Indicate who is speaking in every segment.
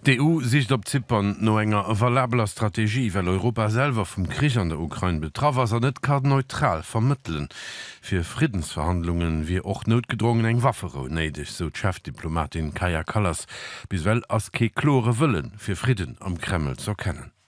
Speaker 1: D'EU sicht op Zypern no enger valabeler Strategie, well Europa selwer vum Krich an der Ukrain betraff ass an net ka neutral vermëttelen. Fir Friddensverhandlunge wier och noutgedrongen eng Wafferou néideg, sou d'Chefdiplomatin Kaja Kallas. Bis ewell ass kee klore Wëlle fir Fridden am Kreml z'erkennen.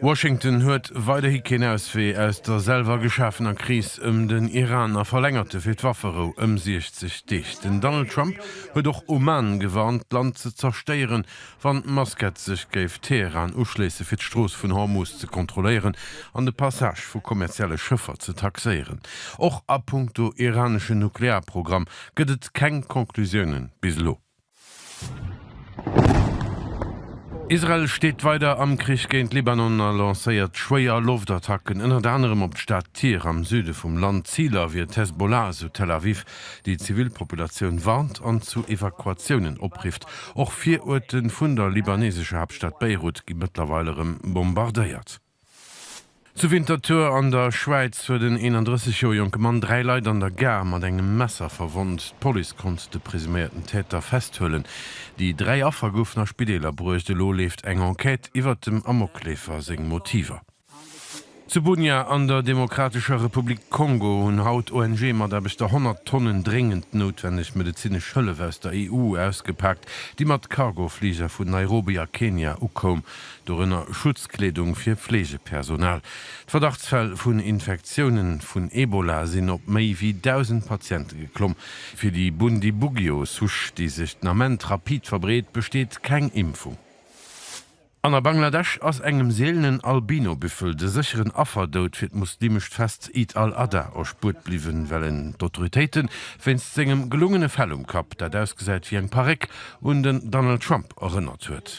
Speaker 1: Washington huet weiderhi keen Auswee aus der selwer geschafener Kris ëm den Iran a verlängerte fir d'Wafferou ëm 60 Deeg. Den Donald Trump huet och Oman gewarnt, d'Land ze zerstéieren, wann Maskat sech géif Teheran uschléisse fir d'Strooss vun Hormuz ze kontrolléieren an de Passage vu kommerzielle Schëffer ze taxéieren. Och a punkto iranesche Nuklearprogramm gëtt et keng Conclusiounen bis elo. Israel steet weider am Krich géint Libanon a lancéiert schwéier Loftattacken, ënnert anerem op d'Stad Tyr am Süde vum Land. Ziler wier d'Hezbollah, esou Tel Aviv, déi d'Zivilpopulatioun warnt an zu Evakuatiounen oprifft. Och Viruerte vun der libanesescher Haaptstad Beirut gi mëttlerweil erëm bombardéiert. Zu Winterthur an der Schwäiz huet en 31 Joer jonke Mann dräi Leit an der Gare mat engem Messer verwonnt. D'Police konnt de presuméierten Täter festhuelen. Déi dräi Affer goufen a Spideeler bruecht. Elo leeft eng Enquête iwwert dem Amokleefer seng Motiver. Zu Bunia an der Demokratescher Republik Kongo hunn haut ONG-Mataarbechter 100 Tonnen dréngend noutwenneg medezinesch Hëllef aus der EU ausgepaakt, déi mat Cargo-Fliger vun Nairobi a Kenia ukoum. dorënner Schutzkleedung fir Fleegepersonal. D'Verdachtsfäll vun Infektiounen vun Ebola sinn op méi wéi 1.000 Patiente geklomm. Fir déi Bundibugyo Souche, déi sech den Ament rapid verbreet, besteet keng Impfung. An a Bangladesch ass engem seelenen Albinobüffel de sécheren Afferdoud fir d'muslimescht Fest Eid al-Adha erspuert bliwwen, well en d'Autoritéiten wéinst sengem gelungene Fell um Kapp, dat ausgesäit wéi eng Paréck, un den Donald Trump erënnert huet.